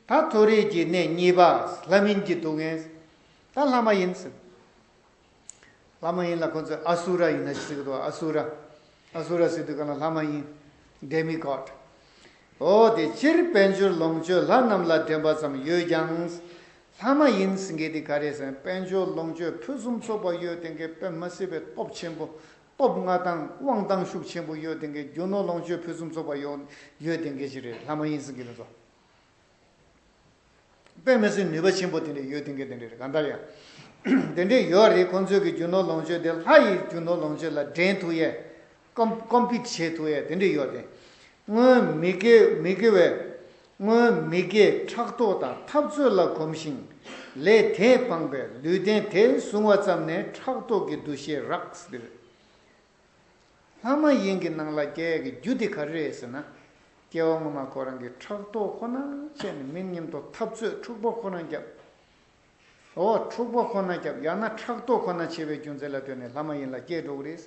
ད་མཐོ་རིས་ཀྱི་གནས་གཉིས་པ་ལྷ་མིན་གྱི་སྡུག་བསྔལ། ད་ལྷ་མ་ཡིན། ལྷ་མ་ཡིན་ལ་ཁོ་ཚོས་ཨ་སུ་ར་ཡིན་ན་ཟེར་གི་འདུག་ཨ་སུ་ར། ཨ་སུ་ར་ཟེར་དུས་ག་ལ་ལྷ་མ་ཡིན། Demi God། ཨོ་དེ་སྤྱིར་དཔལ་འབྱོར་ལོངས་སྤྱོད་ལྷ་རྣམས་ལ་འགྲན་པ་ཙམ་ཡོད་ཀྱང། ལྷ་མ་ཡིན་ཟེར་མཁན་དེ་ག་རེད་ཟེར་ན་དཔལ་འབྱོར་ལོངས་སྤྱོད་ཕུན་སུམ་ཚོགས་པ་ཡོད་དེ་གའི་དཔེ་མ་སྲིད་པའི་སྟོབས་ཆེན་པོ་སྟོབས་མངའ་ཐང་དབང་ཐང་ཤུགས་ཆེན་པོ་ཡོད་དེང་གི་རྒྱུ་ནོར་ལོངས་སྤྱོད་ཕུན་སུམ་ཚོགས་པ་ཡོང་ཡོད་དེང་གི་ཞིག་རེད་ལྷ་མ་ཡིན་སྲིད་གི་རེད་ཚོ་པས་མི་སྲིད་ནུས་པ་ཆེན་པོ་དེ་འདྲས་ཡོད་དེང་གི་དེ་འདྲས་རེད་གང་ལྟར་ཡང་དེ་འདྲས་ཡོད་རེད་ཁོང་ཚོས་གི་རྒྱུ་ནོར་ལོངས་སྤྱོད་དེ་ལྷ་ཡི་རྒྱུ་ནོར་ལོངས་སྤྱོད་ལ་འགྲན་ཐུག་ཡས་ཀོམ་ཀོམ་པིད་བྱེད་ཐུག་ཡས་དེ་འདྲས་ཡོད་དེ་སྔོན་མི་དགེ་མི་དགེ་བའི་སྔོན་མི་དགེའི་ཕྲག་དོག་དང་འཐབ་རྩོད་ལ་གོམས་ཤིང། ལས་དེས་སྤངས་པའི་ལུས་རྟེན་དེ་བཟུང་བ་ཙམ་ནས་ཕྲག་དོག་གི་འདུ་ཤེས་རགས་སྡུད་རེད། ལྷ་མ་ཡིན་གྱི་ནང་ལ་རྒྱལ་གྱི་རྒྱུ་དེ་ག་རེ་རེད་ཟེར་ན། སྐྱེ་བ་སྔོན་མ་ཁོ་རང་གི་ཕྲག་དོག་ཁོ་ན་སྤྱད་ནས་མི་སྙེམས་དོགས་འཐབ་རྩོད་འཁྲུག་པོ་ཁོ་རང་བརྒྱབ། ཟོ་བ་འཁྲུག་པ་ཁོ་ན་སྐྱབས་ཡང་ན་ཕྲག་དོག་ཁོ་ན་བྱེད་པའི་རྒྱུ་མཚན་ལ་ལྟོས་ནས་ལྷ་མ་ཡིན་ལ་སྐྱེས་འགྲོ་གི་རེད།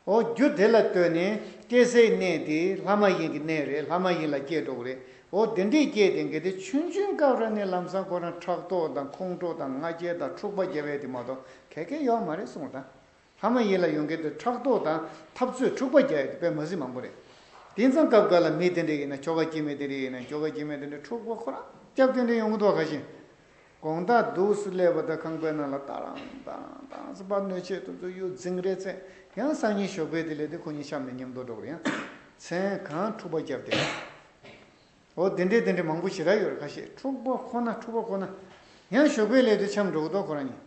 ཨོ་རྒྱུ་དེ་ལ་ལྟོས་ནས་སྐྱེ་སའི་གནས་དེ་ལྷ་མ་ཡིན་གྱི་གནས་རེད་ལྷ་མ་ཡིན་ལ་སྐྱེས་འགྲོ་གི་རེད། ཨོ་དེ་འདྲས་སྐྱེས་དེ་འགལ་ཏེ་ཆུན་ཆུན་སྐབས་ར་ནས་ལམ་སང་ཁོ་རང་ཕྲག་དོག་དང་ཁོང་ཁྲོ་དང་ང་རྒྱལ་དང་འཁྲུག་པ་རྒྱལ་བས་དེ་མ་གཏོགས་གལ་གལ་ཡོག་མ་རེད་གསུངས་དང། ལྷ་མ་ཡིན་ལ་ཡོང་གི་འདུག་ཕྲག་དོག་དང་འཐབ་རྩོད་འཁྲུག་པ་རྒྱག་ཡོད་པའི་མ་ཟི་མང་པོ་རེད། དེང་སང་སྐབས་འགར་ལ་མི་དེ་འདྲ་ཡིན་ན་ཁྱོ་ག་སྐྱེས་མེད་དེ་འདྲ་ཡིན་ན་ཁྱོ་ག་སྐྱེས་མེད་དེ་འདྲ་འཁྲུག་པ་ཁོ་རང་སྐྱབས་དེ་འདྲ་ཡོང་གི་འདུག་ག་བཞིན། དགོངས་དག་འདུག་སུ་ཀླད་པ་དག་ཁང་པའི་ནང་ལ་ལྟ་རང་དང་དང་སུ་པར་གནོད་བྱེད་དུ་འཛུལ་ཡོད་རྫིང་རེད་ཚད་ཡང་སང་ཉིན་ཞོགས་པའི་དེ་ལས་དེ་ཁོ་གཉིས་ཤམ་ནས་ཉམས་རྡོ་སྒྲོག་རེད་ཡང་མཚན་གང་འཁྲུག་པ་རྒྱབ་དེ་འདྲ་འོ་དེ་འདྲ་དེ་འདྲ་མང་པོ་ཞེ་དྲག་ཡོད་རེད་ག་བཞིན་འཁྲུག་པ་ཁོ་ན་འཁྲུག་པ་ཁོ་ན་ཡང་ཞོགས་པའི་ལས་དུ་ཆམ་འགྲོ་གི་འདུག་ཁོ་རང་གཉིས།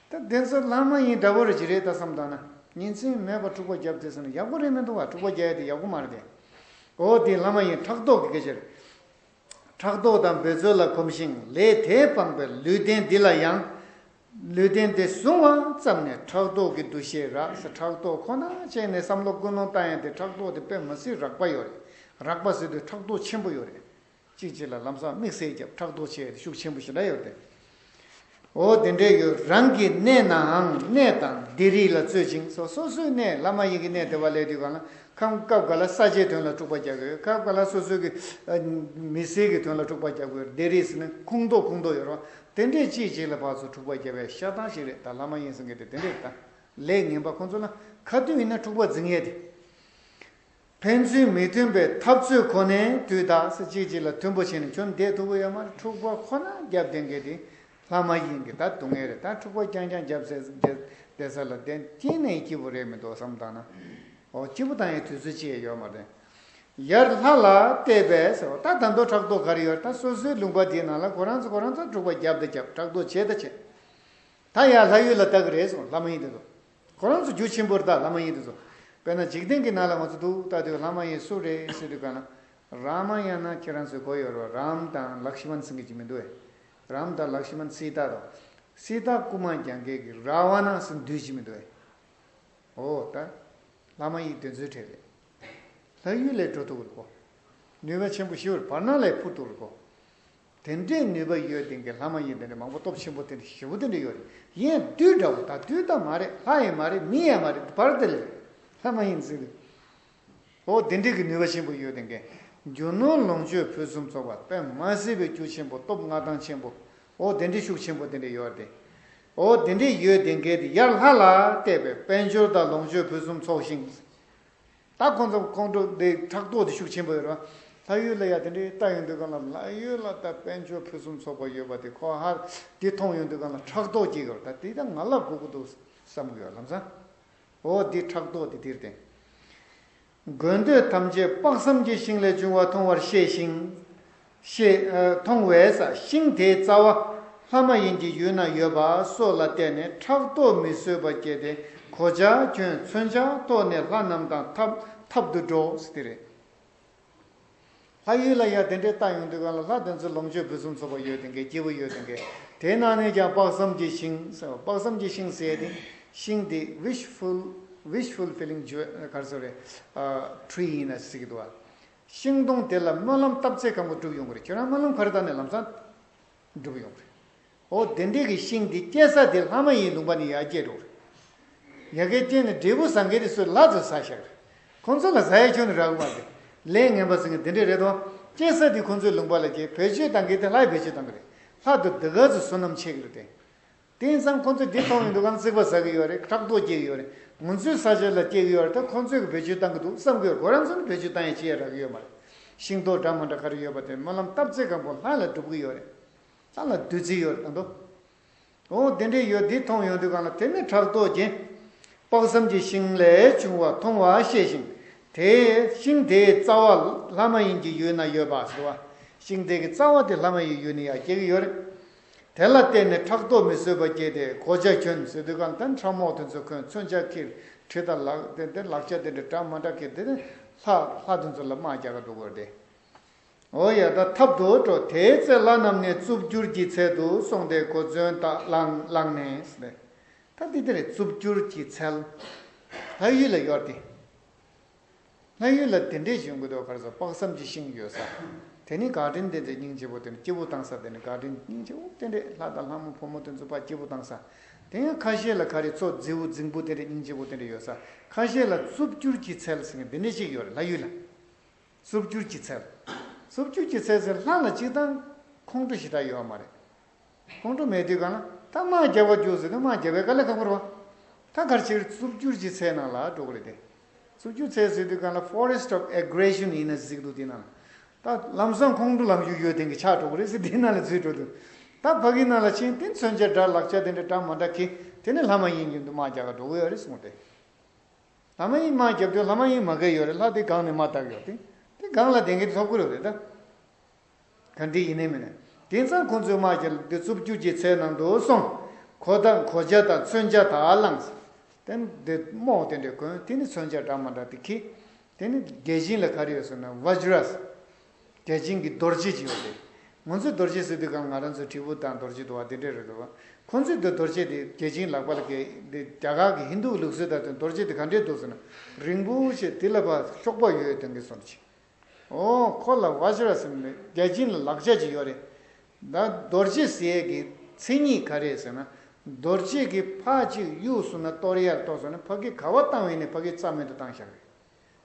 ད་དེ་ཚོ་ལར་མ་ཡིན་འདྲ་པོར་གྱི་རེད་ད་བསམ་དང་ན་ཉིན་མཚན་མེད་པར་འཁྲུག་པ་རྒྱབ་དེ་ཟེར་ན་ཡག་པོ་རེད་མི་འདུག་ག་འཁྲུག་པ་རྒྱ་ཡ་དེ་ཡག་པོ་མ་རེད་དེ། འོ་དེ་ལར་མ་ཡིན་ཕྲག་དོག་གི་ག་ཕྱིར། ཕྲག་དོག་དང་འབོད་རྩོལ་ལ་གོམས་ཤིང་ལས་དེས་སྤངས་པའི་ལུས་རྟེན་འདི་ལ་ཡང། ལུས་རྟེན་འདི་བཟུང་བ་ཙམ་ནས་ཕྲག་དོག་གི་འདུ་ཤེས་རག་ས་ཕྲག་དོག་ཁོ་ན་སྤྱད་ནས་བསམ་བློ་ཀུན་སློང་བཏང་ཡང་དེ་ཕྲག་དོག་དེ་དཔེ་མ་སྲིད་རག་པ་ཡོད་རེད་རག་པ་སྲིད་དུས་ཕྲག་དོག་ཆེན་པོ་ཡོད་རེད། གཅིག་གཅིག་ལ་ལམ་སང་དམིགས་བསལ་རྒྱབ་ཕྲག་དོག་བྱེད་ཤུགས་ཆེན་པོ་ཞིག་འདྲ་ཡོད་དེ། འོ་དེ་འདྲའི་ཡོད་རང་གི་གནས་ནའང་གནས་དང་སྡེ་རིགས་ལ་རྩོད་ཅིང་སོ་སོ་སོའི་གནས་བླ་མ་ཡིན་གྱི་གནས་དེ་བ་ལས་དུས་གང་ལ་ཁམས་སྐབས་འགའ་ལ་ས་ཆའི་དོན་ལ་དཀྲུགས་པ་རྒྱག་གི་ཡོད་སྐབས་འགའ་ལ་སོ་སོའི་གི་མི་སེར་གྱི་དོན་ལ་དཀྲུགས་པ་རྒྱག་གི་ཡོད་སྡེ་རིགས་སུ་ནི་ཁུངས་མདོག་ཁུངས་མདོག་ཡོད་རུང་དེ་འདྲའི་གཅིག་གཅིག་ལ་བར་དུ་དཀྲུགས་པ་རྒྱབ་པའི་ཤ་ཐང་ཞིག་རེད་ད་བླ་མ་ཡིན་གསུང་གི་དེ་དེ་འདྲའི་ལས་ངན་པ་ཁོང་ཚོ་ལ་ཁ་ཏུན་ཡིན་ན་དཀྲུགས་པ་འཛིན་ངེས་དེ། ཕན་ཚུན་མི་མཐུན་པའི་འཐབ་རྩོད་ཁོ་ནས་དུས་དག་སེ་གཅིག་གཅིག་ལ་མཐུན་པོ་བྱས་ནས་ཁྱོད་འདས་ཐུག་གི་ཡོད་མ་རེད་འཁྲུག་པ་ཁོ་ན་རྒྱབ་འདེད་མཁན་དེ་ལྷ་མ་ཡིན་གི་ད་སྡུག་བསྔལ་རེད་ད་འཁྲུག་པ་རྐྱང་རྐྱང་རྒྱབ་ཟེར་བསྡད་ས་ལ་བདེན་སྐྱིད་ནས་སྐྱིད་པོ་རེད་མི་འདུག་བསམ་བཏང་ན་འོ་སྐྱིད་པོ་དང་ཡང་དུས་ཚོད་ཅི་ཡང་ཡོད་མ་རེད་ཡར་ལྷ་ལ་བལྟས་པས་ཟེར་བ་ད་དམ་དོ་ཕྲག་དོག་ག་རེ་ཡོད་ད་སོ་སོའི་ལུང་པ་དེའི་ནང་ལ་ཁོ་རང་ཚོ་ཁོ་རང་ཚོར་འཁྲུག་པ་རྒྱབ་ད་རྒྱབ་ཕྲག་དོག་བྱེད་ད་བྱེད་ད་ཡར་ལྷ་ཡུལ་ལ་བལྟ་གི་རེད་ཟེར་བ་ལྷ་མ་ཡིན་དེ་ཚོ། ཁོ་རང་ཚོ་རྒྱུ་ཆེན་པོར་ད་ལྷ་མ་ཡིན་དུ་ཚོ། དཔེར་ན་འཇིག་རྟེན་གྱི་ནང་ལ་ང་ཚོ་འདུག་ད་དུས་ལྷ་མ་ཡིན་སུ་རེད་ཟེར་དུས་གང་ན། རཱ་མ་ཡང་ན་ཁྱེད་རང་ཚོའི་གོ་ཡོད་རོ་རཱམ་དང་ལག་ཤི་མན་སིང་གི་ཅིག་མི་འདུག་ཨེ། རཱམ་དང་ལག་ཤི་མན་སི་ཏཱ་དང། སི་ཏཱ་ཀུ་མ་རྒྱང་གེ་གི་ར་བ་ན་སི་འདུས་ཅིག་མི་འདུག་ཨེ། ཨོ་ད། ལྷ་མ་ཡིག་དོན་ཚོད་ཁྲེལ་རེད། ལྷ་ཡུལ་ལས་འགྲོ་ཐུབ་རིག་གོ། ནུས་པ་ཆེན་པོ་ཞི་བར་བར་སྣང་ལས་འཕུར་ཐུབ་རིག་གོ། དེ་འདྲའི་ནུས་པ་ཡོད་དེང་གི་ལྷ་མ་ཡིན་དེ་འདྲའི་མང་པོ་སྟོབས་ཆེན་པོ་དེ་འདྲའི་བཞི་པོ་དེ་འདྲ་ཡོད་རེད་གཞན་བདུད་འདྲ་བོ་ད་བདུད་ད་མ་རེད་ལྷ་ཡང་མ་རེད་མི་ཡང་མ་རེད་བར་དེ་ལས་ལྷ་མ་ཡིན་ཟེར་རེད་ཨོ་དེ་འདྲའི་གི་ནུས་པ་ཆེན་པོ་ཡོད་དེང་གི་རྒྱུ་ནོར་ལོངས་སྤྱོད་ཕུན་སུམ་ཚོགས་པ་པདྨ་བསིལ་བའི་རྒྱུ་ཆེན་པོ་སྟོབས་མངའ་ཐང་ཆེན་པོ་ཨོ་དེ་འདྲའི་ཤུགས་ཆེན་པོ་དེ་འདྲ་ཡོད་རེད་ཨོ་དེ་འདྲའི་ཡོད་དེང་གི་དེ་ཡར་ལྷ་ལ་བལྟས་པས་དཔལ་འབྱོར་དང་ལོངས་སྤྱོད་ཕུན་སུམ་ཚོགས་ཤིང། ད་ཁོང་ཚོ་ཁོང་ཁྲོ་འདི་ཕྲག་དོག་འདི་ཤུགས་ཆེན་པོ་ཡོད་རང་ལྷ་ཡུལ་ལ་ཡ་དེ་འདྲའི་ལྟ་ཡོད་འདོད་ག་ལ་ལྷ་ཡུལ་ལ་ད་དཔལ་འབྱོར་ཕུན་སུམ་ཚོགས་པ་ཡོད་པ་དེ་ཁོ་ཧར་འདི་མཐོང་ཡོད་འདོད་ག་ལ་ཕྲག་དོག་སྐྱེ་གི་རོ་ད་དེ་ད་ང་ལ་གོ་གི་འདུག་བསམ་གི་ཡོད་ལམ་སང་འོ་འདི་ཕྲག་དོག་འདི་དེར་བརྟེན་དགོས་འདོད་ཐམས་ཅད་དཔག་བསམ་གྱི་ཤིང་ལས་བྱུང་བ་མཐོང་བར་ཤེས་ཤིང། ཞེས་མཐོང་བས་ཤིང་དེའི་རྩ་བ་ལྷ་མ་ཡིན་གྱི་ཡུལ་ན་ཡོད་པ་སོགས་ལ་བལྟས་ནས་ཕྲག་དོག་མི་བཟོད་པ་སྐྱེས་ཏེ་གོ་ཆ་གྱོན་མཚོན་ཆ་ཐོགས་ནས་ལྷ་རྣམས་དང་འཐབ་འཐབ་ཏུ་འགྲོ། དེ་རེད། ལྷ་ཡུལ་ལ་ཡང་དེ་འདྲའི་རྟགས་ཡོང་དུས་གང་ལ་ལྷ་དེ་ཚོའི་ལོངས་སྤྱོད་ཕུན་སུམ་ཚོགས་པ་ཡོད་དེ་འགས་སྐྱིད་པོ་ཡོད་དེ་འགས་དེའི་ནང་ནས་ཀྱང་དཔག་བསམ་གྱི་ཤིང་ཟེར་བ་དཔག་བསམ་གྱི་ཤིང་ཟེར་ཏེ་ཤིང་དེ Wish Full Wish Fulfilling Jewel གར་སོ་རེད། Tree ཡིན་ན་སྲིད་ཀྱི་འདུག་བ། ཤིང་སྡོང་དེ་ལ་སྨོན་ལམ་བཏབ་ཚེ་གང་པོ་འགྲུབ་ཡོང་གི་རེད་ཁྱོད་རང་སྨོན་ལམ་ག་རེ་བཏབ་ནས་ལམ་སང་འགྲུབ་ཡོང་གི་རེད། ཨོ་དེ་འདྲས་ཀྱི་ཤིང་དེ་སྐྱེ་ས་དེ་ལྷ་མ་ཡིན་ལུང་པ་ནས་ཡར་སྐྱེས་འགྲོ་གི་རེད། ཡར་ཁའི་སྐྱེས་ནས་འབྲས་བུ་བཟང་གི་རེད་སུ་ལགས་ཚོས་བཟའ་ཤག་རེད། ཁོང་ཚོ་ལ་བཟའ་ཡས་ཁྱོད་ནི་ར་ཨུ་མ་རེད། ལས་ངན་པ་ཟེར་ངེས་དེ་འདྲས་རེད་དོ། སྐྱེ་ས་དེ་ཁོང་ཚོའི་ལུང་པ་ལ་སྐྱེས་བེད་སྤྱོད་བཏང་གི་དེ་ལྷ་ཡི་བེད་སྤྱོད་བཏང་གི་རེད། ལྷ་དུ་འདི་ག་ཚོས་བསོད་ནམས་ཆེ་གི་རེད་དེ། དེང་སང་ཁོ་ཚོས་དེ་མཐོང་གི་འདུག་གམ་རྩིག་པ་ཟ་གི་ཡོད་རེད་ཕྲག་དོག་སྐྱེ་གི་ཡོད་རེད་ངུ་འཛོད་ཟ་ཆོད་ལ་སྐྱེ་གི་ཡོད་རེད་ད་ཁོ་ཚོས་གི་བེད་སྤྱོད་བཏང་གི་འདུག་བསམ་གི་གོ་རང་ཚོ་ནི་བེད་སྤྱོད་བཏང་ཡས་ཅི་ཡས་རག་གི་ཡོད་མ་རེད་ཤིང་ཏོག་འདྲ་མོ་འདྲ་ག་རེ་ཡོད་པ་དེ་སྨོན་ལམ་སྟབས་ཚེ་གང་པོ་ལྷ་ལ་སྒྲུབ་གི་ཡོད་རེད་ལྷ་ལ་བདུད་རྩི་ཡོད་རེད་ད་འདུག་ཨོ་དེ་འདྲས་ཡོད་དེ་མཐོང་ཡོང་དུས་གང་ལ་དེ་ནི་ཕྲག་དོག་སྐྱེ། དཔག་བསམ་གྱི་ཤིང་ལས་བྱུང་བ་མཐོང་བ་ཤེས་ཤིང་དེ་ཤིང་དེའི་རྩ་བ་ལྷ་མ་ཡིན་གྱི་ཡུལ་ན་ཡོད་པ་ཟེར་བ་ཤིང་དེ་གི་རྩ་བ་དེ་ལྷ་མ་ཡི་ཡུལ་ནི་ཡང་སྐྱེ་གི་ཡོད་རེད། དེ་ལ་བརྟེན་ནས་ཕྲག་དོག་མི་བཟོད་པ་སྐྱེས་ཏེ་གོ་ཆ་གྱོན་ཟེར་དུས་གང་ལྟར་ཕྲག་མོག་དེ་ཚོ་ཁོས་མཚོན་ཆ་ཁྱིར་ཁྲིད་དང་ལག་དེ་འདི་ལག་ཆ་དེ་འདྲ་དྲག་མ་དྲག་ཁྱིར་དེ་ནི་ལྷ་ལྷ་དེ་ཚོ་ལ་དམག་རྒྱག་ག་འགྲོ་དགོས་རེད། འོ་ཡ་ད་ཐབས་དུ་འགྲོ་དེའི་ཚེ་ལྷ་རྣམས་ནི་རྩུབ་འགྱུར་གྱི་ཚལ་དུ་སོང་སྟེ་གོ་མཚོན་དག་བླངས་ནས། ད་འདི་དེ་རེད་རྩུབ་འགྱུར་གྱི་ཚལ། ལྷ་ཡུལ་ལ་ཡོར་ཏེ། ལྷ་ཡུལ་ལ་དེ་འདྲའི་གཞོན་སྐུ་ཟློས་གར་ཟ་དཔག་བསམ་གྱི་ཤིང་ཡོད་ས། དེ་ནི་འགག་འདྲེན་བསྟེན་ཚེ་སྙིང་རྗེ་བོ་དེ་ནི་སྐྱེ་བོ་བཏང་ས་དེ་ནི་འགག་འདྲེན་སྙིང་རྗེ་བོ་བསྟེན་རེས་ལྷ་དང་ལྷ་མོ་ཕོ་མོ་དེ་ཚོ་དཔའ་སྐྱེ་བོ་བཏང་ས། དེ་ཡང་ཁ་ཤས་ལ་ཁ་རི་ཚོ་རྫི་བོ་རྫིང་བུ་བསྟེན་རེས་སྙིང་རྗེ་བོ་བསྟེན་རེས་ཡོད་ས་ཁ་ཤས་ལ་རྩུབ་སྐྱུར་གྱི་ཚལ་ཟེར་མཁན་འདི་འདྲ་ཞིག་ཡོད་རེད་ལྷ་ཡུལ་ལ། རྩུབ་སྐྱུར་གྱི་ཚལ། རྩུབ་སྐྱུར་གྱི་ཚལ་ཟེར་ལྷ་ལ་གཅིག་དང། ཁོང་ཁྲོ་ཞེ་དྲག་ཡོད་ཨ་མ་རེད། ཁོང་ཁྲོ་མེད་དུས་གང་ན་ད་དམག་རྒྱག་པར་འགྱུར་ཟེར་དུས་དམག་རྒྱག་པའི་དཀའ་ལས་ཁག་པོར་བ། ད་གར་ཕྱིར་རྩུབ་སྒྱུར་གྱི་ཚལ་ནང་ལ་འགྲོ་གི་རེད་དེ། རྩུབ་སྒྱུར་ཚལ་ཟེར་དུས་གང་ལ Forest of Aggression ཡིན་ན་གཟིགས་འདུག་དེ་ནང་ལ་ད་ལམ་སང་ཁོང་ཁྲོ་ལམ་རྒྱུག་ཡོད་དེང་གི་ཆགས་འགྲོ་གི་རེད་ཟེར་དེ་ནང་ལ་འཛུལ་འགྲོ་དུས། ད་ཕ་གིའི་ནང་ལ་ཕྱིན་དེ་མཚོན་ཆ་འདྲ་ལག་ཆ་དེ་འདྲ་འདྲ་མ་འདྲ་གི་དེ་ནི་ལྷ་མ་ཡིན་གྱི་འདུག་དམག་རྒྱག་ག་འགྲོ་གི་ཡོད་རེད་གསུངས་ཏེ། ལྷ་མ་ཡིན་དམག་རྒྱབ་དུས་ལྷ་མ་ཡིན་མ་གས་ཡོད་རེད་ལྷ་དེ་སྒང་ནས་མ་བཏགས་ཡོད་དེ་དེ་སྒང་ལ་དེང་གི་འཐོབ་གི་རེད་ད། ག་འདི་ཡིན་ནི་མིན། དེང་སང་ཁོང་ཚོའི་དམག་གི་འདི་རྩུབ་རྒྱུག་གྱི་ཚད་ནང་དུ་སོང། གོ་ད་མགོ་འཇའ་དང་མཚོན་འཇའ་དག་བླངས། དེ་ནི་འདི་རྨོག་དེ་འདྲས་གོན་དེ་ནི་མཚོན་འཇའ་འདྲ་མ་འདྲ་དེ་ཁྱི། དེ་ནི་རྒྱལ་ཆེན་ལ་ག་རེ་ཡོད་ཟེར་ན Vajras། རྒྱལ་ཆེན་གྱི་རྡོ་རྗེ་ཅིག་ཡོད་དེ། ངོ་ཚོས་རྡོ་རྗེ་ཟེར་དུས་གམ་ང་རང་ཚོས་དྲིལ་བུ་དང་རྡོ་རྗེ་འདུ་བ་དེ་འདྲས་རེད་འདུག་ཁོང་ཚོས་འདི་རྡོ་རྗེ་དེ་རྒྱལ་ཆེན་ལག་པ་ལ་གས་འདི་རྒྱ་གར་གྱི་ཧིན་དུའི་ལུགས་སྲོལ་ལྟར་དུ་རྡོ་རྗེ་དེ་ག་འདྲས་འདུག་ཟེར་ན་རིང་པོ་ཞིག་དེ་ལ་བ་ཤོག་པ་ཡོད་དེང་གི་སོར་ཆིག་འོང་ཁོ་ལ Vajras ནི་རྒྱལ་སྤྱི་ལ་ལག་ཆ་ཅིག་ཡོད་རེད། ད་རྡོ་རྗེ་ཟེར་ཡས་ཀྱི་མཚན་ཉིད་ག་རེད་ཟེར་ན། རྡོ་རྗེ་གི་ཕ་གཅིག་གཡུགས་སོང་ན་སྟོར་ཡར་གཏོགས་སོང་ན་ཕ་གི་ག་བ་བཏང་བས་ནི་ཕ་གི་རྩ་མེད་དུ་བཏང་ཞག་རེད།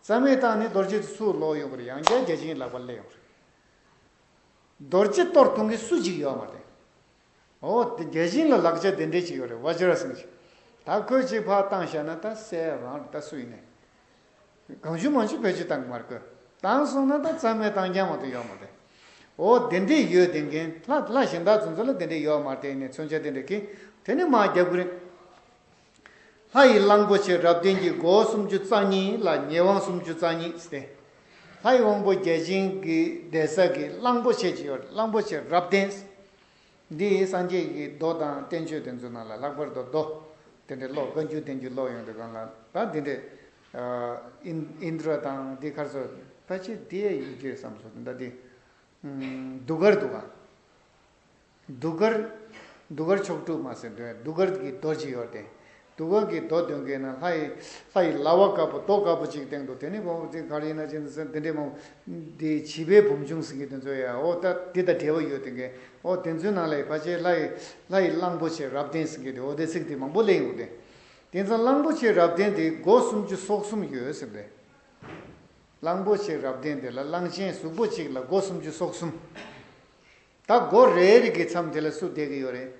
རྩ་མེད་བཏང་ནས་རྡོ་རྗེ་དེ་ཚུར་ལོག་ཡོང་བར་ཡང་བསྐྱར་རྒྱལ་སྤྱིའི་ལག་པ་སླེབས་ཡོང་རེད། རྡོ་རྗེ་གཏོར་གཏོང་མཁན་སུ་གཅིག་ཡོད་མ་རེད། འོ། དེ་རྒྱལ་ཞིང་ལ་ལག་ཆ་དེ་འདྲས་ཅིག་ཡོད་རེད་བ་ཇི་ར་སེང་ཞིག། ད་ཁོས་གཅིག་ཕར་བཏང་ཤ་ན་ད་སེ་རང་རེད་ད་སུ་ཡིན་ནའི། གང་བྱུང་མང་བྱུང་བེད་སྤྱོད་བཏང་གི་མ་རེད་ཁོས་བཏང་སོང་ན་ད་རྩ་མེད་བཏང་རྐྱང་མ་ཏོ་ཡོད་མ་རེད། འོ་དེ་འདྲས་ཡོད་དེ་འགན་ལྷ་ལྷ་གཞན་དག་ཚོ་ཚོ་ལ་དེ་འདྲས་ཡོད་མ་རེད་ནས་མཚོན་ཆ་དེ་འདྲས་ཁེ་དེ་ནས་མ་རྒྱབ་གི་རེད། ལྷ་ཡི་གླང་པོ་ཆེ་རབ་བརྟན་གྱི་སྒོ་སུམ་ཅུ་རྩ་གཉིས་ལ་ཉེ་དབང་སུམ་ཅུ་རྩ་གཉིས་བསྟན། ལྷ་ཡི་དབང་པོ་བརྒྱ་བྱིན་གྱི་གདན་ས་ཀྱི་གླང་པོ་ཆེ་ཇི་ཡོར་གླང་པོ་ཆེ་རབ་བརྟན། འདི་ཡིས་སངས་རྒྱས་ཀྱི་མདོ་དང་བསྟན་བཅོས་དེ་ཚོའི་ནང་ལ་ལྷག་པར་དུ་མདོ་དེ་འདྲའི་ཀློག་བཀའ་འགྱུར་བསྟན་འགྱུར་ཀློག་ཡོང་དུས་གང་ལ་ད་འདི་འདྲའི། ཨིནྡྲ་དང་འདི་ཁར་སོ་ད་ཅི་དེ་ཡི་རྗེས་སམ་སོ་ད་འདི། གདུགས་དཀར་འདུག་ག། གདུགས་དཀར། གདུགས་དཀར་མཆོག་སྤྲུལ་མ་སེར་འདོན། གདུགས་དཀར་གྱི་རྡོ་གཅིག་ཡོད་དེ། གདུགས་དཀར་གྱི་རྡོ་འདོན་མཁན་ནི་ལྷ་ཡི། ལྷ་ཡི་ལྭ་བ་དཀར་པོ་རྡོ་དཀར་པོ་གཅིག་སྟེང་དུ་དེ་ནི་བོང་བུ་རྩིག་གར་ཡིན་ན་ཅི་འདི་འདྲའི་བོང་བུ། འདི་བྱིས་པའི་བུམ་ཆུང་ཟིན་གྱི་དེ་ཚོ་ཡའོ། ད་འདི་དང་འབྲེལ་བ་ཡོད་དེ་གའི། ཨོ་དེ་ཚོའི་ནང་ལས་བ་ཅའི་ལྷ་ཡི། ལྷ་ཡི་གླང་པོ་ཆེ་རབ་བརྟན་ཟིན་གྱི་དེ་ཨོ་དེ་ཚིག་དེ་མང་པོ་གླེང་ཡོང་དེ། དེ་མཚམས་གླང་པོ་ཆེ་རབ་བརྟན་དེའི་སྒོ་སུམ་ཅུ་སོ་གསུམ་ཡོད་ཟེར་དེ། གླང་པོ་ཆེ་རབ་བརྟན་དེ་ལ་གླང་ཆེན་གཟུགས་པོ་གཅིག་ལ་སྒོ་སུམ་ཅུ་སོ་གསུམ། ད་སྒོ་རེའི་རིགས་ཀྱི་མཚམས་དེ་ལ་སུ་བསྡད་ཀྱི་ཡོད་རེད།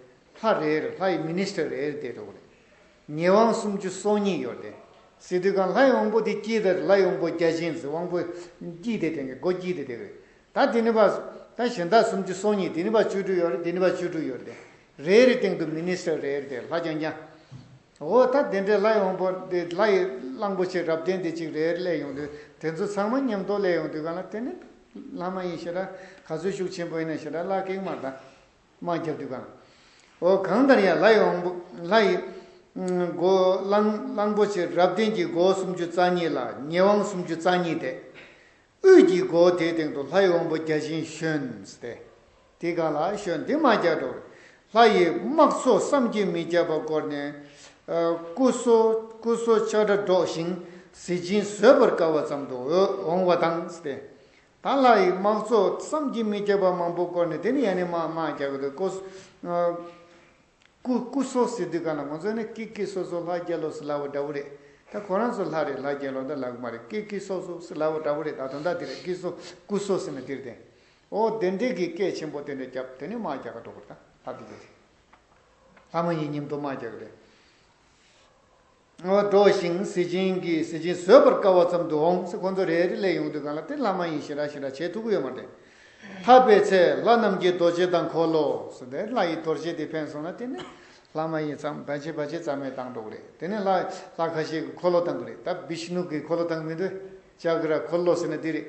ལྷ་རེར་ལྷ་ཡི Minister རེ་བསྡད་འགྲོ་གི་རེད། ཉེས་དབང་སུམ་ཅུ་སོ་གཉིས་ཡོད་རེད། སི་ཏུ་གང་ལྷ་ཡི་དབང་པོ་དེ་སྐྱིད་དེ་རེད་ལྷ་ཡི་དབང་པོ་བརྒྱ་བྱིན་གྱི་དབང་པོ་སྐྱིད་དེ་དེང་གི་སྒོ་སྐྱིད་དེ་དེ་གི་རེད། ད་དེ་ནི་བ་ད་གཞན་དག་སུམ་ཅུ་སོ་གཉིས་དེ་ནི་བ་བཅུ་དྲུག་ཡོད་རེད་དེ་ནི་བ་བཅུ་དྲུག་ཡོད་རེད། རེའི་རིགས་སྟེང་དུ Minister རེ་བསྡད་ལྷ་རྐྱང་རྐྱང། འོ་ད་དེ་འདྲའི་ལྷ་ཡོང་པོ་དེ་ལྷ་ཡི་གླང་པོ་ཆེ་རབ་བརྟན་དེ་གཅིག་རེད་སླེ་ཡོང་དུས་དེ་ཚོ་ཚང་མ་མཉམ་དུ་སླེ་ཡོང་དུས་ག་ལ་དེ་ནི་ལྷ་མ་ཡིན་ཞེ་ད་ག་ཚོད་ཤུགས་ཆེན་པོ་ཡིན་ན་ཞེ་ད་ལག་ཀེག་མར་ད་མ་རྒྱབ་དུས་ག་ལ་འོ་གང་ལྟར་ཡང་ལྷ་ཡོང་པོ་ལྷ་ཡི་མགོ་གླང་པོ་ཆེ་རབ་བརྟན་གྱི་མགོ་བོ་སུམ་ཅུ་རྩ་གཉིས་ལ་ཉེ་དབང་སུམ་ཅུ་རྩ་གཉིས་དེ། དབུས་ཀྱི་སྒོ་དེའི་སྟེང་དུ་ལྷའི་དབང་པོ་བརྒྱ་བྱིན་བཞོན་ཏེ། འདི་གང་ལགས་ཤོ་འདི་མ་བརྒྱ་འགྲོ། ལྷ་ཡི་དམག་ཚོགས་བསམ་གྱིས་མི་ཁྱབ་པ་བསྐོར་ནས། སྐུ་གསོལ་ཆགས་སྒྲ་སྒྲོགས་ཤིང་གཟི་བྱིན་བཟོད་པར་དཀའ་བ་ཙམ་དུ་འོང་བ་དང། ད་ལྷ་ཡི་དམག་ཚོགས་བསམ་གྱིས་མི་ཁྱབ་པ་མང་པོ་བསྐོར་ནས་དེ་ནི་ཡང་ནི་མ་བརྒྱ་འགྲོ། སྐུ་སྐུ་སོགས་ཟེར་དུས་གང་ལ་ང་ཚོ་ནི་ཀི་ཀི་སོགས་སོགས་ལྷ་རྒྱལ་ལོ་སི་ལ་བོ་འདྲ་བོ་རེད་ད་ཁོ་རང་ཚོ་ལྷ་རེད་ལྷ་རྒྱལ་ལོ་འདྲ་ལ་གི་མ་རེད་ཀི་ཀི་སོགས་སོགས་སི་ལ་བོ་འདྲ་བོ་རེད་ད་དོན་དག་དེ་རེད་ཀི་སོགས་སྐུ་སོགས་ཟེར་ན་དེ་རེད་དེ། ཨོ་བདེན་འགྲེལ་གྱི་སྐད་ཆེན་པོ་དེ་འདྲ་རྒྱབ་དེ་ནི་དམག་རྒྱག་ག་འགྲོ་དགོས་ད་ལྷ་དེ་རེད། ལྷ་མ་ཡིན་སྙེམས་དུ་དམག་རྒྱག་གི་རེད། འགྲོ་ཞིང་གཟི་བྱིན་གྱིས་གཟི་བྱིན་བཟོད་པར་དཀའ་བ་ཙམ་དུ་འོང་ཟེར་ཁོང་ཚོ་རེ་རེ་ལས་ཡོང་དུས་གང་ལ་ཏིལ་ལྷ་མ་ཡིན་ཞེ་དྲག་ཞེ་དྲག་བྱེད་ཐུག་གི་ཡོད་མ་རེད། ཐར་པའི་ཚེ་ལྷ་རྣམས་ཀྱིས་རྡོ་རྗེ་དང་འཁོར་ལོ་སོགས་དེ་ལྷ་ཡི་དོར་བྱས་ཏེ་འཕེན་སོང་ན་དེ་ནི་ལྷ་མ་ཡིན་ཙམ་བར་བྱེད་བར་བྱེད་ཙམ་མས་བཏང་འགྲོ་གི་རེད་དེ་ནི་ལྷ་ལྷ་ཁ་ཤས་ཀྱི་འཁོར་ལོ་བཏང་གི་རེད་ད་བིཤནུ་གི་འཁོར་ལོ་བཏང་གི་མི་འདུག་ཅག་གི་ར་འཁོར་ལོ་ཟེར་ན་འདི་རེད།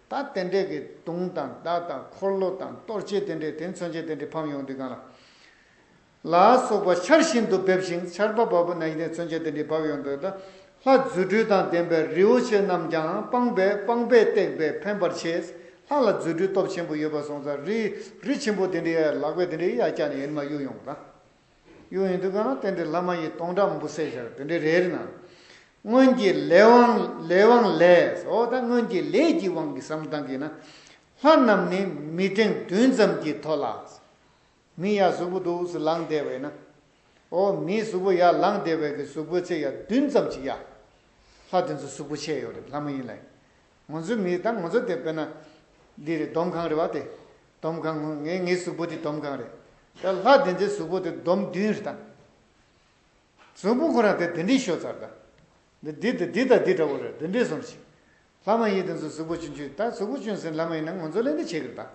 ད་རྟེན་འབྲེལ་གྱི་དུང་དང་བརྡ་དང་འཁོར་ལོ་དང་གཏོར་བྱེད་རྟེན་འབྲེལ་དེ་མཚོན་བྱེད་རྟེན་འབྲེལ་ཕམ་ཡོང་དུས་གང་ལ་ལ་སོགས་པ་ཆར་བཞིན་དུ་འབེབས་ཤིང་ཆར་པ་བབ་པོ་ན་ཡིན་ཏེ་མཚོན་བྱེད་རྟེན་འབྲེལ་བབས་ཡོང་དུས་ད་ལྷ་རྫུ་འཕྲུལ་དང་ལྡན་པའི་རིའུ་ཆེ་རྣམས་ཀྱང་སྤངས་པས་སྤངས་པས་བཏེགས་པས་ཕན་པར་བྱེད། ལྷ་ལ་རྫུ་འཕྲུལ་སྟོབས་ཆེན་པོ་ཡོད་པར་སོང་ཙང་རིའི་རི་ཆེན་པོ་དེ་འདྲའི་ཡར་ལག་པའི་དེ་འདྲའི་ཡར་བཀྱགས་ནས་ཡུན་མ་གཡུགས་ཡོང་དང། གཡུ་ཡི་འདུ་ཁང་ན་རྟེན་འབྲེལ་བླ་མ་ཡི་སྟོང་ཕྲ་མོ་པོ་སེར་ཤ་རུ་འདུས་འདྲའི་རེ་རེ་ན། སྔོན་གྱི་ལས་དབང་ལས་དབང་ལས་ཨོ་ད་སྔོན་གྱི་ལས་ཀྱི་དབང་གིས་སམ་གང་གིས་ན། ལྷ་རྣམས་ནི་མི་ཐེངས་བདུན་ཙམ་གྱིས་ཐོ་ལ། མི་ཡག་གཟུགས་པོ་དུག་སུ་ལངས་བདེ་བས་ན། ཨོ་མིའི་གཟུགས་པོ་ཡག་ལངས་བདེ་བས་ཀྱི་གཟུགས་པོའི་ཚེ་ཡག་བདུན་ཙམ་གྱིས་ཡ། ལྷ་དེ་ཚོ་གཟུགས་པོ་ཆེ་ཡོད་རེད་ལྷ་མ་ཡིན་ལ། ངོ་ཚོའི་མིའི་དང་ངོ་ཚོ་དེ་དཔེར་ན། འདི་རེད་སྡོམ་ཁང་རེད་བ་དེ། སྡོམ་ཁང་ངོ་ངའི་ངའི་གཟུགས་པོ་འདི་སྡོམ་ཁང་རེད། ད་ལྷ་དེ་འདྲའི་གཟུགས་པོ་དེ་སྡོམ་བདུན་རེད་དང། གཟུགས་པོ་ཁོ་རང་དེ་དེ་འདྲའི་ཤོ་ཚར་དང། འདི་འདི་དང་འདི་དང་འདི་འདྲ་བོ་རེད་འདི་འདྲས་སོང་ཞིག། ལྷ་མ་ཡིན་དེ་ཚོ་གཟུགས་པོ་གཅུན་གཅུན་ད་གཟུགས་པོ་གཅུན་ཟིན་ལྷ་མ་ཡིན་ན་ངོ་ཚོ་ལས་འདི་བྱེད་གི་རེད་དང།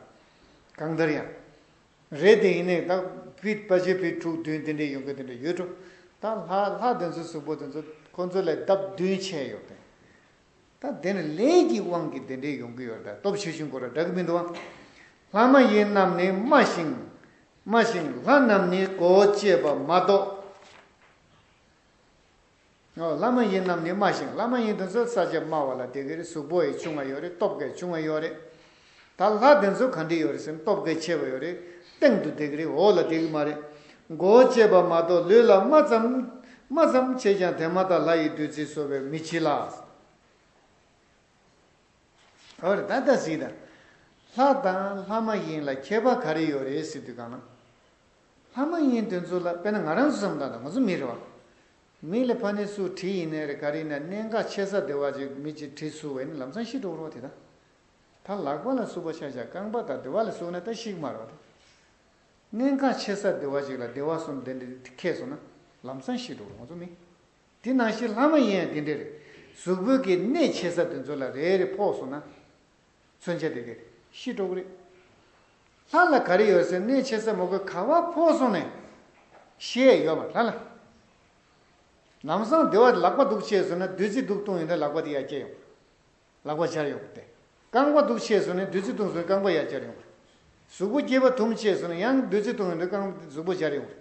གང་ལྟར་ཡང། རེད་དེ་ཡིན་ནའི་ད་བྷི་དཔའ་ཆེན་བྷི་དྲུག་བདུན་དེ་འདྲས་ཡོང་གི་དེ་འདྲས་ཡོད་འགྲོ། ད་ལྷ་ལྷ་དེ་ཚོའི་གཟུགས་པོ་དེ་ཚོ་ཁོ་ཚོ་ལས་ལྡབ་བདུན་ཆེ་ཡོད་དེ། ད་དེར་ལས་ཀྱི་དབང་གིས་དེ་འདྲའི་ཡོང་གི་ཡོད་ལྟ་སྟོབས་ཆེ་ཞིང་གོ་ར་འདྲ་གི་མི་འདུག་ལྷ་མ་ཡིན་རྣམས་ནི་སྨྲ་ཞིང། སྨྲ་ཞིང་ལྷ་རྣམས་ནི་གོ་ཅེས་པ་མ་གཏོགས། ལྷ་མ་ཡིན་རྣམས་ནི་སྨྲ་ཞིང་ལྷ་མ་ཡིན་དོན་གསལ་ས་ཆ་སྨྲ་བ་ལ་དེ་གའི་གཟུགས་པོ་ཡི་ཆུང་བ་ཡོད་རེད་སྟོབས་ཀའི་ཆུང་བ་ཡོད་རེད། ད་ལྷ་དེ་ཚོ་ག་འདྲི་ཡོད་རེད་སེམས་སྟོབས་གལ་ཆེ་བ་ཡོད་རེད་སྟེང་དུ་བསྡད་གི་རེད་འོག་ལ་བསྡད་གི་མ་རེད་མགོ་བོ་གཅད་པ་མ་གཏོགས་ལུས་ལ་རྨ་ཙམ་རྨ་ཙམ་བྱས་ཀྱང་དེ་མ་ཐག་ལྷ་ཡི་བདུད་རྩི་གསོ་བའི་མི་བྱི་ལ། ག་རེད་ད་ལྟ་གཟིགས་དང། ལྷ་དང་ལྷ་མ་ཡིན་ལ་ཁྱད་པ་ག་རེ་ཡོད་རེད་གཟིགས་དུས་གང་ན། ལྷ་མ་ཡིན་དེ་ཚོ་ལ་དཔེར་ན་ང་རང་ཚོ་བསམ་དང་ང་ཚོ་མི་རེད་བ། མི་ལ་ཕ་ནི་སུ་བྲིས་ཡིན་ནའི་རེད་ག་རེ་ཡིན་ན་གནད་འགག་ཆེ་ས་དེ་བ་ཅིག་མི་ཅིག་བྲིས་སུ་བས་ནི་ལམ་སང་ཤི་འགྲོ་བར་བ་དེ་དང། ད་ལག་པ་ལ་སུ་བ་ཤ་ཤ་རྐང་པ་དང་བདེ་བ་ལ་སུ་ན་ད་ཤིག་མར་བ་དང། གནས་ཁ་ཆེ་སར་བདེ་བ་ཞིག་ལ་བདེ་བ་གསུམ་དེ་འདྲས་ཁེགས་སོང་ན་ལམ་སང་ཤི་འགྲོ་བ་ངོ་ཚོ་མིན། དེ་ནང་བཞིན་ལྷ་མ་ཡིན་ཡང་དེ་འདྲས་རེད་གཟུགས་བོད་ཀྱི་གནས་ཆེ་སར་དེ་ཚོ་ལ་རེ་རེ་ཕོག་སོང་ན། མཚོན་ཆ་དེ་གས་ཤི་འགྲོ་གི་རེད། ལྷ་ལ་ག་རེ་ཡོད་སའི་གནས་ཆེ་སར་མོ་གོས་ག་བ་ཕོག་སོང་ནས། ཤེས་ཡས་ཡོད་མ་ལྷ་ལ། ལམ་སང་བདེ་བ་ལག་པ་འདུག་བཅས་སོང་ན་བདུད་རྩི་འདུག་བཏུང་ཡོད་ན་ལག་པ་དེ་ཡར་སྐྱེ་ཡོང། ལག་པ་སྦྱར་ཡོང་བ་སྟེ། རྐང་པ་འདུག་ཆས་སུ་ནི་བདུད་རྩི་བཏུང་སོགས་རྐང་པ་ཡར་སྦྱར་ཡོང་བ། གཟུགས་པོ་སྐྱེས་པ་དུམ་ཆས་སུ་ནི་ཡང་བདུད་རྩི་བཏུང་ཡོང་དུས་རྐང་པ་གཟུགས་པོ་སྦྱར་ཡོང་བ།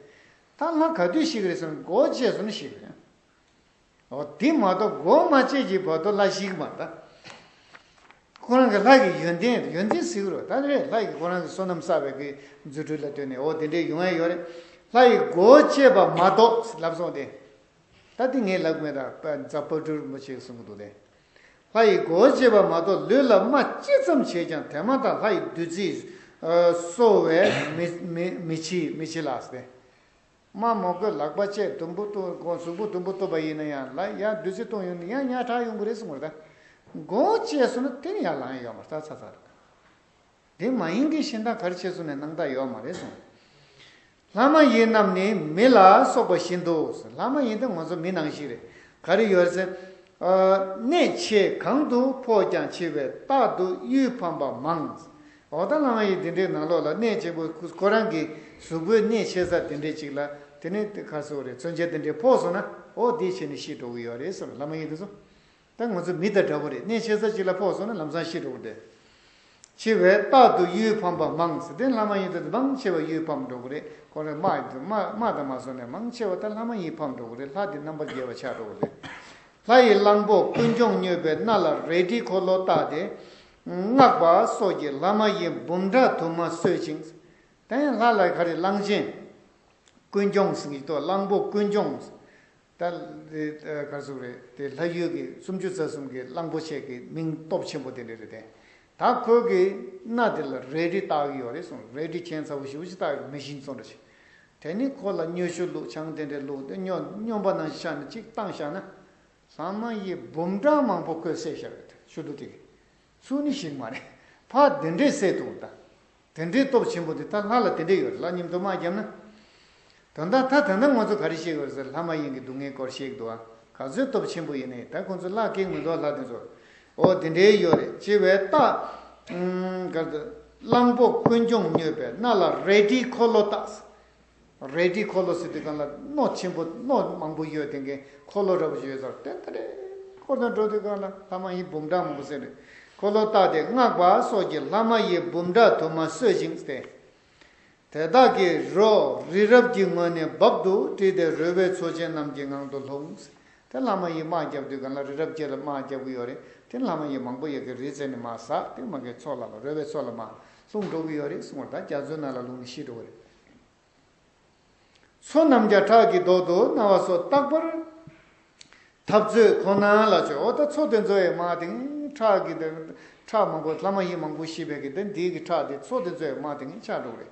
ཐ་ལྷ་ག་དུས་ཤིག་རེད་སོང་མགོ་བཅད་སོང་ནི་ཤིག། འོ་དེ་མ་གཏོགས་མགོ་མ་བཅད་ཀྱི་བར་དུ་ལྷ་ཞིག་མ་གདའ། ཁོ་རང་གི་ལྷ་ཀྱི་ཡོན་ཏན་ཡོན་ཏན་གཟིགས་རོགས་ད་རེས་ལྷ་ཡིས་ཁོ་རང་གི་བསོད་ནམས་བསགས་པའི་གི་རྫུ་འཕྲུལ་ལ་ལྟོས་ནས་འོ་དེ་འདྲའི་ཡོང་ཨེ་ཡོང་རེད། ལྷ་ཡིས་མགོ་བཅད་པ་མ་གཏོགས་ལབ་སོང་སྟེ། ད་དེ་ངའི་ལག་མེད་ད་རྫ་སྤ་གྲུར་མོ་བྱས་སོང་གི་འདུག་སྟེ། ལྷ་ཡི་སྒོ་འབྱེད་པ་མ་གཏོགས་ལུས་ལ་རྨ་ཅི་ཙམ་བྱས་ཀྱང་དེ་མ་ཐག་ལྷ་ཡི་བདུད་རྩིས་གསོ་བས་མི་འཆི་ལགས་སེ། རྨ་མོ་རྐོས་ལག་པ་བཅད་དུམ་བུ་གཟུགས་པོ་དུམ་བུ་བཏུབ་པ་ཡིན་ན་ཡང་ལ་ཡང་བདུད་རྩི་བཏུང་ཡོང་ན་ཡང་ཉག་ཕྲག་ཡོང་གི་རེད་གསུངས་པ་རེད། སྒོ་བཅད་སོང་ན་དེ་ནི་ཡང་ལངས་ཡོང་བ་རྩ་ཚ་ཚ་རེད། དེ་མ་ཡིན་གྱི་ཤིང་རྟ་གར་ཕྱེ་བཟོ་ནས་གནང་ད་ཡོད་མ་རེད་གསུངས། ལྷ་མ་ཡིན་རྣམས་ནི་མི་ལ་སོགས་པ་བཞིན་དུ་ཟེར་ལྷ་མ་ཡིན་ད་ང་ཚོ་མི་ནང་ཞིག་རེད་ག་རེ་ཡོད་ཟེར། གནས་ཆེ་གང་དུ་ཕོག་ཀྱང་ཆེ་བས་རྟག་ཏུ་གཡུལ་ཕམ་པ་མང། འོ་ད་ལྷ་མ་ཡིན་དེ་འདྲའི་ནང་ལོགས་ལ་གནས་ཆེན་པོ་ཁོ་རང་གི་གཟུགས་པོའི་གནས་ཆེ་ས་དེ་འདྲའི་ཅིག་ལ་དེ་ནི་ཁ་སོ་རེད་མཚོན་ཆ་དེ་འདྲའི་ཕོག་སོང་ན་འོ་དེའི་ཆེད་ནས་ཤི་འགྲོ་གི་ཡོད་རེད་ཟེར་ལྷ་མ་ཡིན་དེ་ཚོ་ད་ང་ཚོ་མི་དང་འདྲ་བོ་རེད་གནས་ཆེ་ས་གཅིག་ལ་ཕོག་སོང་ན་ལམ་སང་ཤི་འགྲོ་གི་འདུག་ཆེ་བས་རྟག་ཏུ་གཡུལ་ཕམ་པ་མང་ཟེར་དེ་ལྷ་མ་ཡིན་ད་དུང་མང་ཆེ་བ་གཡུལ་ཕམ་འགྲོ་གི་རེད་ཁོང་རེ་སྨྲ་ཡི་འདུག་སྨྲ་དང་མ་སོང་ནས་མང་ཆེ་བ་ད་ལྷ་མ་ཡིན་ཕམ་འགྲོ་གི་རེད་ལྷ་དེ་རྣམ་པར་རྒྱལ་བ་ཆགས་འགྲོ་གི་རེད། ལྷ་ཡི་གླང་པོ་ཀུན་འབྱུང་མྱོས་པའི་སྣ་ལ་རལ་གྲི་འཁོར་ལོ་བཏགས་ཏེ། སྔགས་པ་སོགས་ཀྱིས་ལྷ་མ་ཡིན་འབུམ་ཕྲག་དུ་མ་གསོད་ཅིང། ད་ཡང་ལྷ་ལ་ག་རེ་གླང་ཆེན། ཀུན་འབྱུང་ཟིག་ཏོ་གླང་པོ་ཀུན་འབྱུང། ད་དེ་གར་སོང་རེད་དེ་ལྷ་ཡུལ་གྱི་སུམ་ཅུ་རྩ་གསུམ་གྱི་གླང་པོ་ཆེ་གི་མིང་སྟོབས་ཆེན་པོ་དེ་འདྲ་རེད་དེ། ད་ཁོས་གི་སྣ་དེ་ལ་རལ་གྲི་བཏགས་ཀྱི་ཡོད་རེད་གསུངས་རལ་གྲི་ཁྱེད་ཚ་བོ་ཞིག་བུ་ཅི་བཏགས་ཀྱི་མི་ཤིང་བཙོ་འདྲ་བྱེད། དེ་ནི་ཁོ་ལ་སྨྱོ་ཤུ་བླུགས་ཆང་དེ་འདྲ་བླུགས་ཏེ་སྨྱོ་པ་ནང་ཤར་ནས་གཅིག་བཏང་བཞག་ན། ལྷ་མ་ཡིས་འབུམ་གྲངས་མང་པོ་ཁོས་བསད་བཞག་རེད་དེ་ཤུ་བླུགས་དེ། ཚུལ་ནི་ཞིག་མ་རེད། ཕ་དེ་འདྲའི་སྲས་དུ་གདའ། དེ་འདྲའི་སྟོབས་ཆེན་པོ་དེ་ད་ལྷ་ལ་དེ་འདྲས་ཡོད་རེད་ལགས་སྙིམ་དུ་མ་བརྒྱབ་ན། དོན་དག་མཐའ་དེ་འདྲ་ངོ་ཚོ་ག་རེ་བཤད་དགོས་ཟེར་ལྷ་མ་ཡིན་གྱི་སྡུག་བསྔལ་སྐོར་བཤད་འདུག་ཨ་ག་ཚོའི་སྟོབས་ཆེན་པོ་ཡིན་ནའི་ད་ཁོང་ཚོ་བླ་ཁའི་ངོས་འདུག་ལྷ་དེ་ཚོ་ཨོ་དེ་འདྲས་ཡོད་རེད་ཅེས་བའི་རྟགས། གར་དུ། གླང་པོ་ཀུན་འབྱུང་མྱོས་པའི་སྣ་ལ་རལ་གྲིའི་འཁོར་ལོ་བཏགས། རལ་གྲི་འཁོར་ལོ་ཟེར་དུས་གང་ལ་རྣོ་ཆེན་པོ་རྣོ་མང་པོ་ཡོད་དེ་གའི་འཁོར་ལོ་རབ་ཡོད་ཟེར་དེ་ལྟར་རས་འཁོར་དང་འགྲོགས་དུས་གང་ལ་ལྷ་མ་ཡི་འབུམ་ཕྲག་མང་པོ་ཟེར་རས་འཁོར་ལོ་བཏགས་ཏེ་སྔགས་པ་སོགས་ཀྱིས་ལྷ་མ་ཡི་འབུམ་ཕྲག་དུ་མ་གསོས་ཤིང་བསྟེན། དེ་དག་གིས་རོ་རི་རབ་ཀྱི་ངོས་ནས་རྦབ་ཏུ་དཀྲིས་ཏེ་རོལ་བའི་མཚོ་ཆེན་རྣམས་ཀྱི་ངང་དུ་ལྷུང། དེ་ལྷ་མ་ཡིས་དམག་བརྒྱབ་དུས་གང་ལ་རི་རབ་ཁྱེད་ལ་དམག་བརྒྱབ་གི་ཡོད་རེད་དེ་ལྷ་མ་ཡིས་མང་པོ་ཡོད་གི་རེད་ཟེར་ནས་དམག་ཟགས་ཏེ་དམག་གི་ཚོགས་ལ་ལ་རོལ་བའི་མཚོ་ལ་མ་ལྷུང་འགྲོ་གི་ཡོད་རེད་གསུངས་བར་ད་རྒྱ་མཚོའི་ནང་ལ་ལྷུང་ནས་ཤི་འགྲོ་གི་རེད། ཚོགས་རྣམས་བརྒྱ་ཕྲག་གི་བཟློག་ཏུ་གནང་བ་སོགས་རྟག་པར་འཐབ་རྩོད་ཁོ་ན་ལ་བྱོས་འོ་ད་ཚོགས་དེ་ཚོའི་དམག་དེང་ཁྲག་གི་དེ་ཁྲག་མང་པོ་ལྷ་མ་ཡིན་མང་པོ་ཤི་བས་ཀྱི་དེ་འདིའི་གི་ཁྲག་དེ་ཚོགས་དེ་ཚོའི་དམག་དེང་ཁྲག་དྲུག་རེད་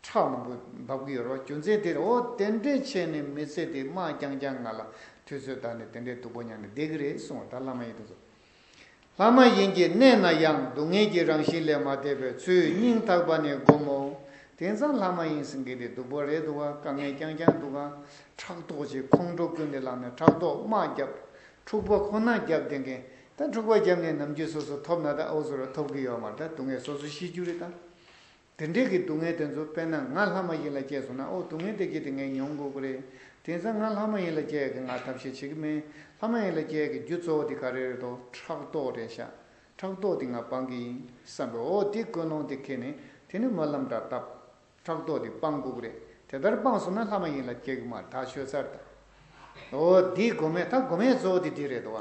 ཁྲག་མང་པོ་འབབ་ཀྱི་ཡོད་རོ་རྒྱུ་མཚན་དེ་རེད་འོ་དེ་འདྲའི་ཆེད་ནས་མི་ཚེ་དེ་དམག་རྐྱང་རྐྱང་ང་ལ་དུས་ཚོད་ད་ནི་དེ་འདྲའི་སྡུག་པོ་མྱངས་ནས་བསྡད་ཀྱི་རེད་གསུང་བ་ད་ལྷ་མ་ཡིན་དེ་ཚོ་ལྷ་མ་ཡིན་གྱི་གནས་ན་ཡང་སྡུག་བསྔལ་གྱི་རང་བཞིན་ལས་མ་འདས་པའི་ཚུལ་སྙིང་ཐག་པ་ནས་བསྒོམ་མོ། དེང་སང་ལྷ་མ་ཡིན་ཟིན་གྱི་འདི་སྡུག་པོ་རེད་འདུག་ག་དཀའ་ངལ་རྐྱང་རྐྱང་འདུག་ག། ཕྲག་དོག་ཅིག་ཁོང་ཁྲོ་ཀུན་ནས་ལངས་ནས་ཕྲག་དོག་དམག་བརྒྱབ། འཁྲུག་པ་ཁོ་ན་བརྒྱབ་བསྡད་མཁན་ད་འཁྲུག་པ་བརྒྱབ་ནས་ནམ་རྒྱུན་སོ་སོ་ཐོབ་ན་ད་ཨོ་སོ་ར་ཐོབ་གི་ཡོད་མ་ད་སྡུག་བསྔལ་སོ་སོ་ཤི་རྒྱུ་རེད་ད། དེ་འདྲའི་གི་སྡུག་བསྔལ་དེ་ཚོ་དཔེར་ན་ང་ལྷ་མ་ཡིན་ལ་སྐྱེས་སོང་ན་ཨོ་སྡུག་བསྔལ་དེ་སྐྱེས་ཏེ་ངས་མྱོང་དགོས་ཀྱི་རེད། དེང་སང་ང་ལྷ་མ་ཡིན་ལ་སྐྱེས་གི་ང་ཐབས་ཤེས་བྱེད་ཀྱི་མེད། ལྷ་མ་ཡིན་ལ་སྐྱེས་གི་རྒྱུ་གཙོ་བོ་དེ་ག་རེ་རེད་དོ་ཕྲག་དོག་རེད་ཤག་ཕྲག་དོག་དེ་ང་སྤང་གི་ཡིན་བསམ་པའི་འོ་དེ་ཀུན་སློང་དེ་ཁེ་ནས་དེ་ནི་སྨོན་ལམ་འདྲ་སྟབས། ཕྲག་དོག་དེ་སྤང་དགོས་ཀྱི་རེད་དེ་ལྟར་སྤངས་སོང་ན་ལྷ་མ་ཡིན་ལ་སྐྱེས་གི་མ་ཐག་ཆོས་ཚར་དང། འོ་དེའི་སྒོ་མེད་ད་སྒོ་མེད་གཙོ་བོ་དེ་དེ་རེད་དོ།